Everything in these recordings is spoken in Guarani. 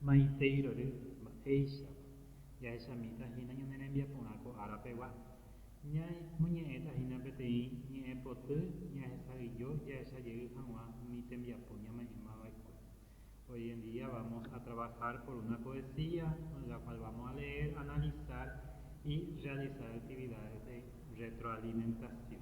Maiteirory, mba'éichapa. Jahechamíta hína ñane rembiaporã ko árapegua. Ñaimoñe'ẽta hína peteĩ ñe'ẽpoty ñahesa'ỹijo jahecha jey hag̃ua umi tembiapo ñame'ẽma va'ekue. Hoy en día vamos a trabajar por una poesía en la cual vamos a leer, analizar y realizar actividades de retroalimentación.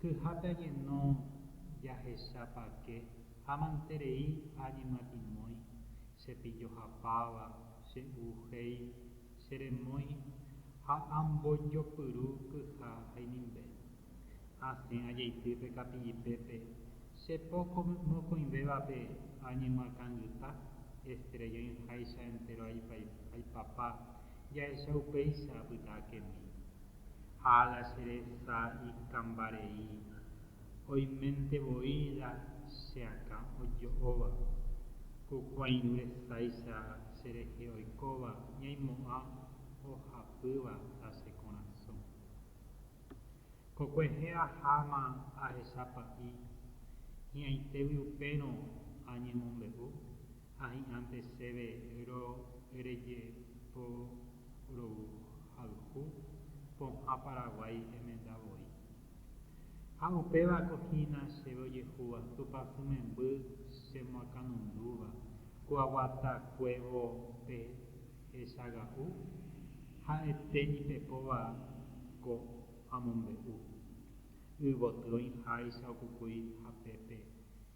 Kyhápe añeno jahechapake ha manterei ha añemyatimói, che pillo hapáva, che u jei, che remói ha ambojopyru kyha ha inimbe. Asẽ ajeity pe kapillipépe, che po mokõivévape añemyakãngyta, estrella oĩháicha entéro aipapa, jahecha upéicha apyta akemi. ha la che resa ikambareíva, oiménte voi la che akã ojo'óva, ku kuãirũ resáicha che rehe oikóva ñaimo'ã ohapýva la che korasõ. Ko kuehe aháma ahecha pa'i hi'ãitévy upérõ añemombe'u, Ha hi'ãnte chéve rorejeporouhayhu pohã Paraguái emenda voi. Ha upéva ko hína chéve ojehúva Tupãsy memby chemoakãnundúva ko aguatakuévo pe hechaga'u ha'ete ipepóva ko amombe'u. Yvoty oĩháicha okukúi hapépe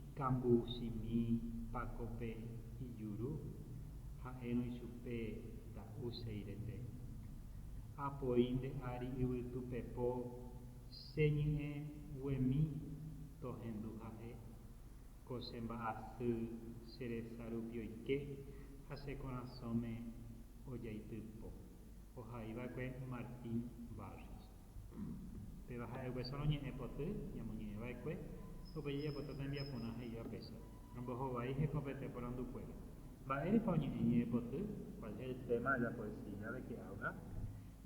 Ikambousymi Pácope ijuru, ha'érõ ichupe ta'u Seirete. Apoi nde ári yvytu pepo che ñe'ẽ guemi tohendu ha'e, ko che mba'asy che resa rupi oike ha che korasõme ojaity po. Ohaiva'ekue Martín Barrios. Péva ha'e upéso roñe'ẽ poty ñamoñe'ẽ va'ekue, upe jajapóta tembiaporã he'íva péso. Romboho vai heko pete porandu kuéra. Mba'érepa oñe'ẽ ñe'ẽ poty? Kuál es el téma de la poesía de que habla?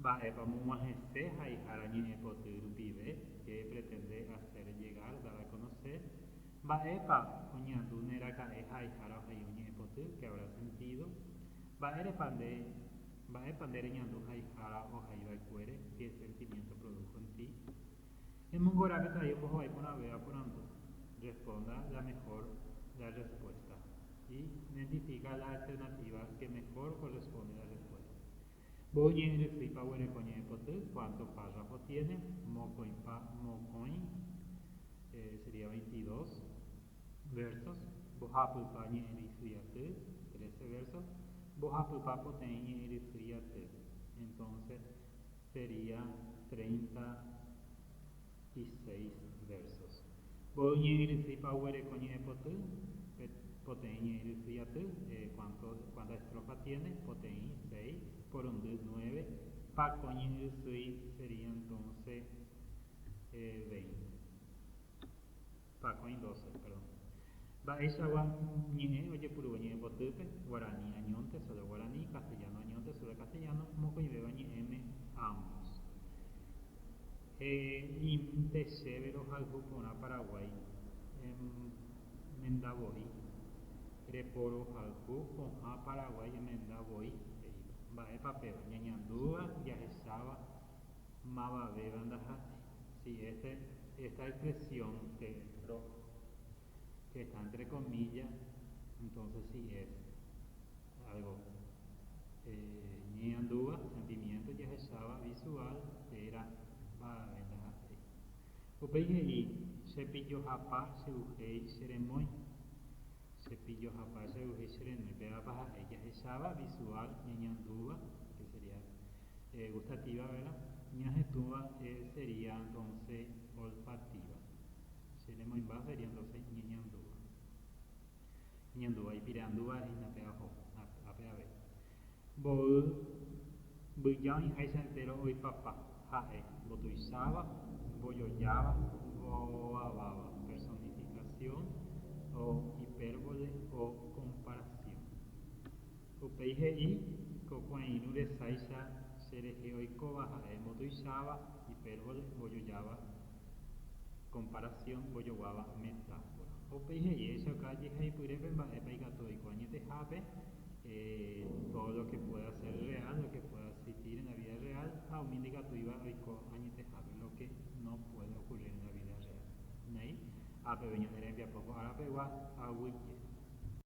Mba'épa omog̃uahẽse haihára ñe'ẽ poty rupive, qué pretende hacer llegar, dar a conocer? Mba'épa oñeandu ne raka'e haihára ohai oñe'ẽ poty, qué habrá sentido? Mba'érepa nde Mba'épa nde reñandu haihára ohai va'ekuére que sentimiento produjo en ti? Emongora peteĩ ombohovái porãve aporandu. Responda la mejor la respuesta y identifica la alternativa que mejor corresponde la respuesta. Mboy ñe'ẽ rysýipa oguereko ñe'ẽpoty, cuánto párrafo tiene, mokõipa mokõi, eh, sería veintidós. Versos, Mbohapypa ñe'ẽrysy aty, trece versos, Mbohapypa poteĩ ñe'ẽrysy aty, entonces sería treinta y seis versos, Mboy ñe'ẽrysýipa oguereko ñe'ẽpoty, poteĩ ñe'ẽrysy aty, cuánto, cuántas estrofas tiene, poteĩ, seis, porundy, nueve, Pako ñe'ẽrysýi sería entonces veinte. Pakõi doce, perdón. Mba'éichagua ñe'ẽ ojepuru oñe'ẽpotýpe, guarani añónte, sólo guarani, castellano añónte, sólo castellano, mokõivéva ñe'ẽme, ambos. He'íminte chéve rohayhu porã Paraguái, emenda voi, reporohayhu pohã Paraguái emenda voi, he'íva. Mba'épa péva? Ñañandúva, jahecháva, Mavavéva ndaha'éi. Si este, esta expresión que entró, que está entre comillas, entonces si es algo ñeñandúva, sentimiento jahecháva visual térã mavave ndaha'éi. Upéi he'i, Chepillohapa che'uhéi cheremói. Chepillohapa che'uhéi cherenói. Pévapa ha'e jahecháva visual, ñeñandúva, que sería. E gustativa vera, ñahetũva e seria donce olfativa. Che nemoimba seria donce iñeñandúva. Iñeñandúva, ipire'andúva hína pe aho, ápe avei. Mboy mbyja oĩháicha entéro oipapa ha'e mbotuicháva, mbojojáva, mbovaváva. Personifikasión o ipérbole o komparasión. Upéi he'i, Ko kuãirũ resáicha che rehe oikóva ha'e mbotuicháva, hipérbole, mbojojáva, komparasión, mbojoguáva, metáfora. Ha upéi he'i, Echauka ajehaipyre pe mba'épa ikatu oiko añetehápe, tódo lo ke pueda sér reál, lo ke pueda eksistír en la vída reál, ha umi ndaikatúiva oiko añetehápe, lo ke no puede okurrír en la vída reál. Néi, ha peve ñane rembiapo ko árapegua, aguyje.